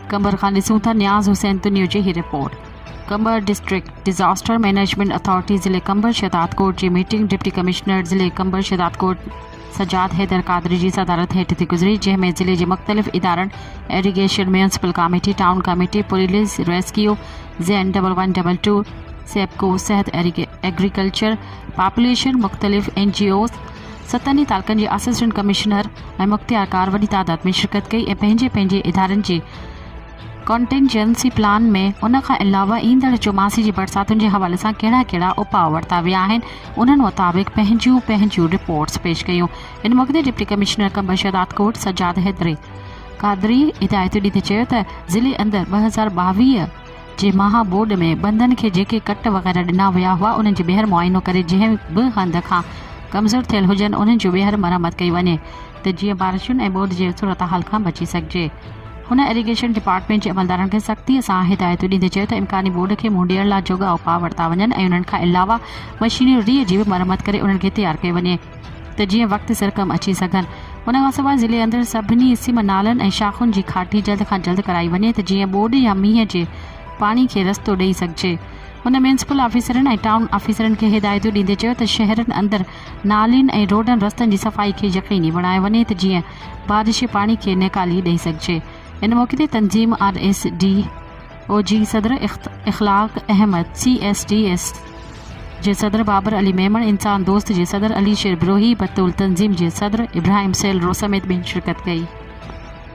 قمبر کان ڏسون ٿا نياز حسين تنيو جي هي report Qambar district disaster management authority ضلعي قمبر شهدادڪوٽ جي ميٽنگ ڊپٽي ڪمشنر ضلعي قمبر شهدادڪوٽ سجاد حيدر قادري جي صدارت هيٺ ٿي گذري جنهن ۾ ضلعي جي مختلف ادارن irrigation municipal committee town committee police rescue زين double one double two SEPCO صحت ايگريڪلچر پاپوليشن، مختلف اين جي اوز، ستن ئي تعلقن جي اسسٽنٽ ڪمشنر ۽ مختيارڪار وڏي تعداد ۾ شرڪت ڪئي ۽ پنهنجي پنهنجي ادارن جي ڪنٽينجنسي پلان ۾ ان کان علاوه ايندڙ چوماسي جي برساتن جي حوالي سان ڪهڙا ڪهڙا اپاء ورتا ويا آهن انهن مطابق پنهنجيون پنهنجيون رپورٽس پيش ڪيون. ان موقعي تي ڊپٽي ڪمشنر ڪمبشت آتڪوٽ سجاد حيدري قادري هدايتون ڏيندي چيو ته ضلعي اندر ٻه هزار ٻاويهه جي مها ٻوڏ ۾ بندن کي جيڪي ڪٽ وغيره ڏنا ويا هئا انهن جي ٻيهر معائنو ڪري جنهن به هنڌ کان ڪمزور ٿيل هجن انهن جون ٻيهر مرمت ڪئي وڃي ته جيئن بارشن ۽ ٻوڏ جي صورتحال کان بچي سگهجي هن اريگيشن ڊپارٽمينٽ جي عملدارن کي سختي سان هدايتون ڏيندي چيو ته امڪاني ٻوڏ کي منهن ڏيڻ لا جوڳا اپاء ورتا وڃن ۽ انهن کان علاوه مشينري جي به مرمت ڪري انهن کي تيار ڪيو وڃي. ته جيئن وقت سر ڪم اچي سگهن. ان کان سواء ضلعي اندر سڀني سم نالن ۽ شاخن جي کاٽي جلد کان جلد ڪرائي وڃي ته جيئن ٻوڏ يا مينهن جي پاڻي کي رستو ڏئي سگهجي. هن ميونسپل آفيسرن ۽ ٽائون آفيسرن کي هدايتون ڏيندي چيو ته شهرن اندر نالين ۽ روڊن رستن جي صفائي کي يقيني بڻايو وڃي ته جيئن بارشي پاڻي کي نيڪالي ڏئي سگهجي. ان موقعي تي تنظيم آر ايس ڊي. او جي صدر Akhlaq Ahmed, C S D S, جي صدر بابر علي ميمڻ، انسان دوست جي صدر علي شير بروهي، بطول تنظيم جي صدر ابراهيم سيل رو سميت ٻين شرڪت ڪئي.